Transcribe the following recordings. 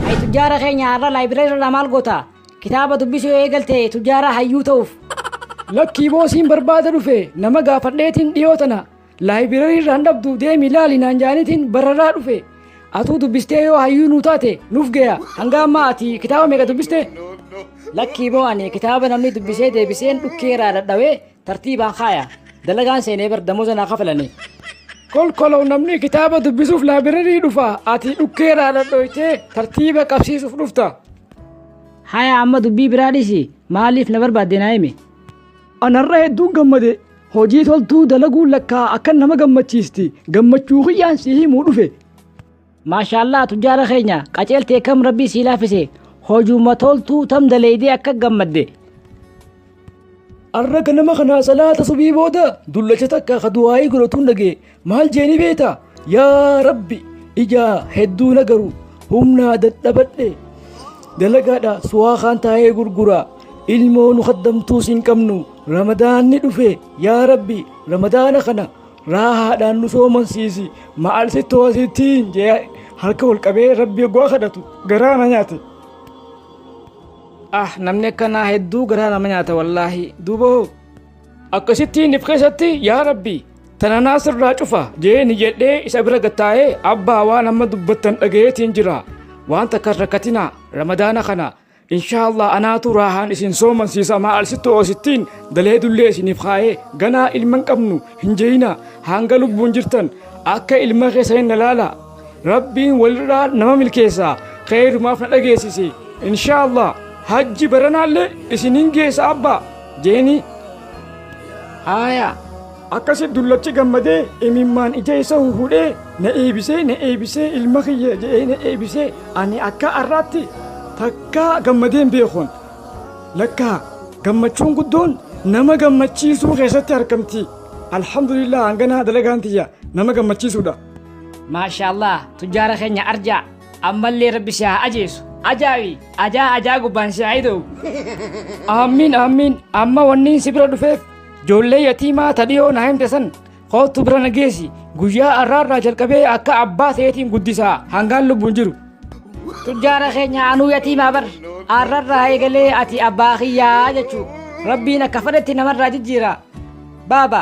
Hay tujjaara keenya har'a laayibireerii irraa maal goota? Kitaaba dubbisuu yoo eegalte tujjaara hayyuu ta'uuf. Lakkii boosiin barbaada dhufe nama gaafadheetiin dhiyoo tana Laayibirarii irraan dhabdu deemi laali naan jaanitiin bararaa dhufe. Atuu dubbistee yoo hayyuu nuu taate nuuf gaya. Hanga ammaa ati kitaaba meeqa dubbiste? Lakkii boo ani kitaaba namni dubbisee deebiseen dhukkee irraa dhadhawee tartiibaan kaaya. Dalagaan seenee bar damoza naa kafalanii. Kolkolow namni kitaaba dubbisuuf laabirarii dhufa. Ati dhukkee irraa dhadhoytee tartiiba qabsiisuuf dhufta. Haya amma dubbii biraa dhisi maaliif na barbaadde naa himi. Anarra hedduun gammade. Hojii toltuu dalaguun lakkaa akkan nama gammachiisti. Gammachuu kiyyaan si himuu dhufe. Maashaallah tujjaara keenya qaceeltee kam rabbii sii laafise hojuma toltuu tam daleeydee akka gammadde. Arra ganama kana salaata subii booda dullacha takka ka du'aa'ii godhatuun dhagee Maal jeeni beeta? Yaa Rabbi ijaa hedduu na garu humnaa dadhabadhe dalagaadha suwaa kaan taa'ee gurguraa ilmoo nu kaddamtuus hin qabnu ramadaanni dhufe yaa Rabbi ramadaana kana raahaadhaan nu soomansiisi maal si toosittiin jee harka ol qabee Rabbi oggaa kadhatu garaa na nyaate. Ah namni akkanaa hedduu garaa nama nyaata wallaahi duuba hoo akkasittiin if keessatti yaa Rabbi Tananaa sirraa cufa jeeni jedhee isa bira gattaa'ee abbaa waan amma dubbattan dhagayeetiin jira waan takka rakkatina ramadaana kana inshaallah anaatu raahaan isin soomansiisa maal sitti oosittiin daleedullee isiniif kaa'ee ganaa ilman qabnu hin jeeyina hanga lubbuun jirtan akka ilma keessa hin ilaala rabbiin walirraa nama milkeessa keeyrumaaf na dhageessise inshaallah hajji baranaallee isiniin geessa abbaa jeeni Haaya! Akkasi dullachi gammadee imimmaan ija isa huhudhee na eebisee na eebisee ilma kiyya jedhee na eebisee ani akka har'aatti takkaa gammadeen beekuun lakkaa gammachuun guddoon nama gammachiisuu keessatti argamti alhamdulillah hanganaa dalagaan tiyya nama gammachiisuudha. Maashaallah tujjaara keenya arjaa. ammallee rabbi si haa ajeesu ajaawi ajaa ajaa gubbaan si haa ida'u aammiin aammiin amma wanniin si bira dhufeef joollee yatiimaa tadhiyoo na himte san koottu bira na geessi guyyaa arraarraa jalqabee akka abbaa ta'eetiin guddisaa hangaan lubbuun jiru tujjaara keenya anuu yatiimaa bar arrarraa eegalee ati abbaa kiyyaa jechuu rabbiin akka fedhetti namarraa jijjiira baaba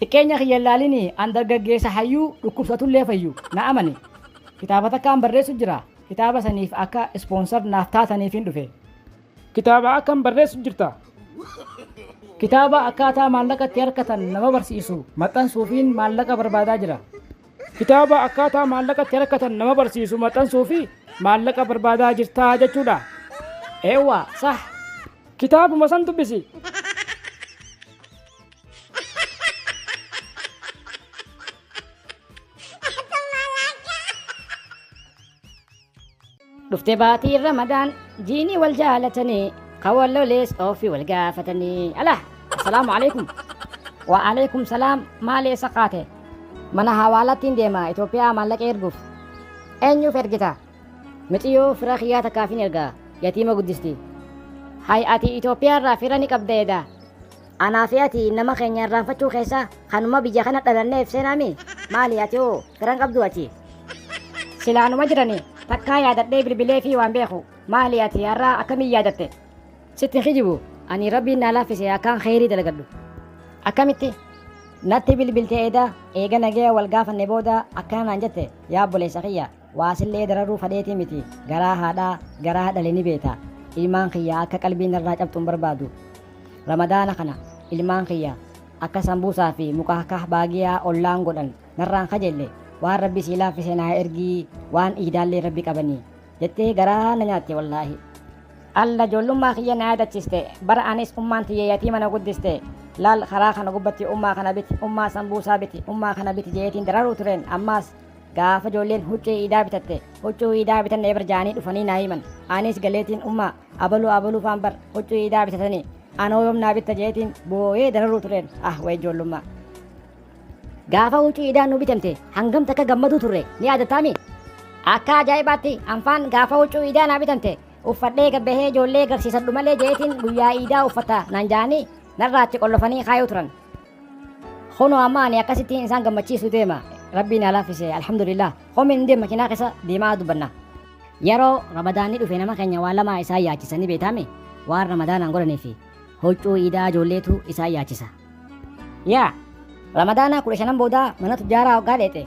Xiqqeenya kiyya hin laalini, an dargaggeessa hayyuu dhukkubsatullee fayyu. Na amani. Kitaaba takkaan barreessu jira. Kitaaba saniif akka sponsor naaf taataniifin dhufe. Kitaaba akkam barreessu jirta? Kitaaba akkaataa maallaqa itti harkatan nama barsiisu maxxansuufiin maallaqa barbaadaa jira. Kitaaba akkaataa maallaqa itti harkatan nama barsiisu maxxansuufi maallaqa barbaadaa jirtaa jechuudha. Eewwa, sah. Kitaabuma san dubbisi. dhufte baatii ramadaan jiinii wal jaalatanii kan wal lolees ofii wal gaafatanii ala assalaamu alaikum wa alaikum salaam maali eessa kaate mana hawaalattiin deema itoophiyaa maallaqa erguuf eenyuuf ergita miciyoo fira kiyyaa takkaafin ergaa yatiima guddisti hay ati itoophiyaa irraa fira ni qabda edaa Anaa fi ati nama keenya irraanfachuu keessa kanuma biyya kana dhalanneef seenaami maali ati hoo garan qabdu ati. Sila anuma jirani takkaa yaadadhee bilbilee fi waan beeku maali ati har'aa akkamiin yaadatte. Sitti kijibu ani rabbiin naa laaffise akkaan kheyrii dalagadhu. Akkamitti? Natti bilbilte eeda eega nagaya wal gaafanne booda akkana naan jette yaa obboleessa kiyya. Waa sillee dararuu fadheetii miti garaa haadhaa garaa dhale ni beeta ilmaan kiyya akka qalbii narraa cabxu hin barbaadu ramadaana kana ilmaan kiyya akka sambuusaa fi mukaakah baagiyaa ollaan godhan narraan kajelle waan rabbi sii laaffise naa ergii waan iidaallee rabbi qabanii jettee garaa na nyaatte wallaahi alla ijoollummaa kiyya na yaadachiste bara anis ummaan tiyya yatiima na guddiste laal karaa kana gubbatti ummaa kana biti ummaa sambuusaa biti ummaa kana biti jeetiin dararuu tureen ammaas Gaafa ijoolleen huccuu iidaa bitatte huccuu iidaa bitanne bar jaanii dhufanii naa himan. Anis galeetiin ummaa abaluu abaluu faan bar huccuu iidaa bitatanii anoo yoom naa bitta jeetiin booyee dararuu tureen ah way ijoollummaa. Gaafa huccuu iidaa nu bitamte hangam takka gammaduu turre ni yaadattaami? Akka ajaa'ibaatti anfaan gaafa huccuu iidaa naa bitamte uffadhee gabbahee ijoollee garsiisadhu malee jeetiin guyyaa iidaa uffata naan jaanii narraa achi qollofanii kaayuu turan. Kunoo amma ani akkasittiin isaan gammachiisu deema. Rabbiin haa laaffise alhamdulillah. Komiin hin deema makiinaa keessa deemaa dubbanna. Yeroo ramadaanni dhufe nama keenya waan lamaa isaan yaachisa ni beektaami waan ramadaanaan godhanii fi huccuu iidaa ijoolleetu isaan yaachisa. Yaa ramadaanaa kudha shanan boodaa mana tujjaaraa hoggaa dheexe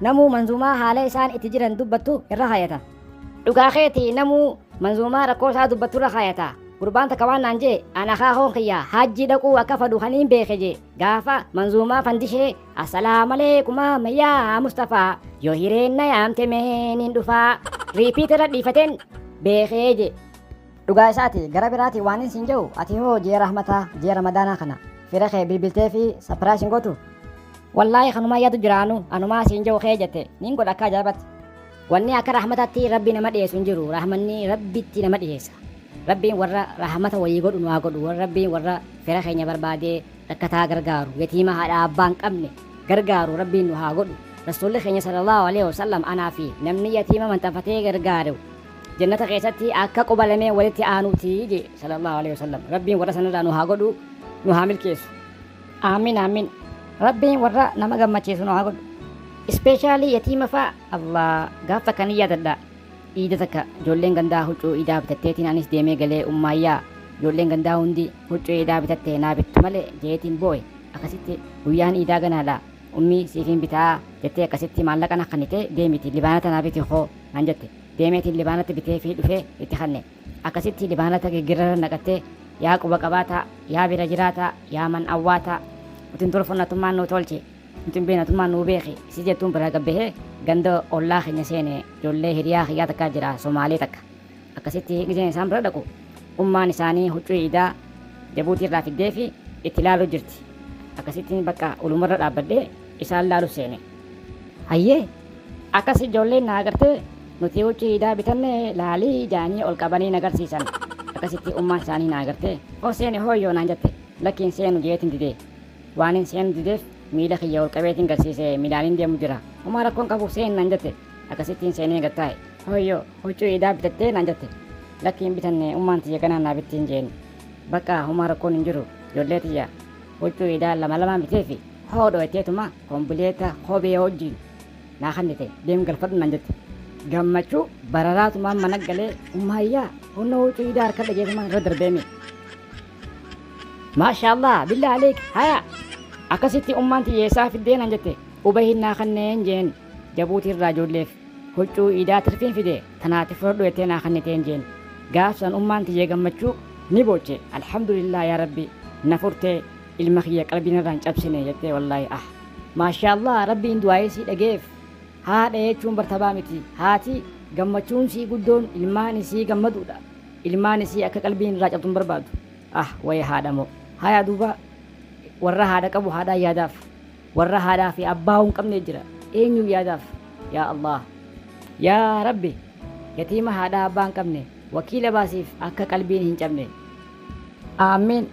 Namuu manzuumaa haala isaan itti jiran dubbattu irra haayata. Dhugaa keeti namuu manzuumaa rakkoo isaa dubbattu irra haayata. Gurbaan takka waan naan jee an akaakoon kiyya haajjii dhaquu akka fadhu kan hin beeke jee gaafa manzuumaa fandishee asalaamaleekumaa mayyaa Mustafaa yoo hireen na yaamte meen hin dhufaa riipiit irra dhiifateen beekee jee. Dhugaa isaati gara biraati waanin siin jedhu ati hoo ji'a rahmataa ji'a ramadaanaa kana fira kee bilbiltee fi sapiraayis hin gootu. Wallaahi kanumaa yaadu jiraanu anumaa siin jedhu kee jette nin godha akka ajaa'ibatti. Wanni akka rahmataatti rabbi nama dhiyeessu hin jiru rahmanni rabbitti nama dhiyeessa. Rabbiin warra rahmata wayii godhu nu haa godhu warra rabbiin warra fira keenya barbaadee rakkataa gargaaru yatiima haadha abbaa hin qabne gargaaru rabbiin nu haa godhu. Rasuulli keenya sallallahu alaihi wasallam anaa fi namni yatiima maxxanfatee gargaaru Jannata keessatti akka quba lameen walitti aanuuti jee sallallahu alaihi wasallam. Rabbiin warra sanirraa nu haa godhu, nu haa milkeessu. Aamiin aamiin. Rabbiin warra nama gammachiisu nu haa godhu. Ispeeshaalii yatiima faa Allah gaaf takka ni yaadadha. Iida takka ijoolleen gandaa huccuu iidaa bitatteetiin anis deemee galee ummaayyaa ijoolleen gandaa hundi huccuu iidaa bitatte naa bittu malee jeetiin boo'e akkasitti guyyaan iidaa ganaadha ummii siifiin bitaa jettee akkasitti maallaqa na kannite deemiti libaana tanaa biti koo naan jette. Deemeetiin Libaanatti biteefii dhufee itti kanne. Akkasitti Libaanata giggirrara naqattee, Yaa quba qabaataa, yaa bira jiraataa, yaa man awwaataa, nuti hin tolfun atummaan nuu tolchi, nuti hin beeknu atummaan nuu beeki si jettuun biraa gad bahee ganda ollaa keenya seene ijoollee hiriyaa kiyyaa takkaa jira Somaalee takka. Akkasitti gizeen isaan bira dhaqu ummaan isaanii huccuu iidaa Jabuutii irraa fiddeefi itti laaluu jirti. Akkasitti bakka ulumarra dhaabbadhee isaan laalu seene. Hayyee! Akkas ijoolleen na agartee nuti huccuu iidaa bitanne laalii jaanii ol qabanii na garsiisan. Akkasitti ummaan isaanii na agartee hoo seeni hoo yoo naan jette lakki hin seenu jeetin dide. Waanin seenu dideef miila kiyya ol qabeetin garsiise miilaanin deemu jira. Homaa rakkoon qabu seeni naan jette. Akkasittiin seenee gad taa'e. Hooyyoo! Huccuu iidaa bitattee naan jette. Lakki hin bitanne ummaan tiyya ganaa naa bittiin jeen. Baqqaa humaa rakkoon hin jiru jollee tiyya huccuu iidaa lama lamaan biteefi hoo dhoyteetuma kombileeta kophee hojjiin naa kannite deem galfadhu naan jette. Gammachuu bararaatumaan mana galee ummaayyaa kunno huccuu iidaa harkadha jeetumaan irra darbeemi. Maashaallaah billaa aleek haya akkasitti ummaan tiyya eessaa fiddee naan jette ubahiin naa kanneen jeen jabuutii irraa joolleef. Huccuu iidaa tirfiin fide tanaati fudhadhu jettee naa kanniteen jeen. Gaaf san ummaan tiyya gammachuu ni booche alhamdulillah yaa rabbi na furtee ilma kiyya qalbii narraa hin cabsine jettee wallaahi ah. Maashaallah rabbiin du'aa'ii sii dhage'eef haadha jechuun bar tabaa miti haati gammachuun isii guddoon ilmaan isii gammaduudha ilmaan isii akka qalbiin irraa cabdu hin barbaadu ah waya haadha moo haya duuba warra haadha qabu haadhaan yaadaaf. Warra haadhaa fi abbaa hin qabne jira eenyuun yaadaaf yaa Allah yaa rabbi yatiima haadhaa abbaa hin qabne wakiila baasiif akka qalbiin hin cabne aamiin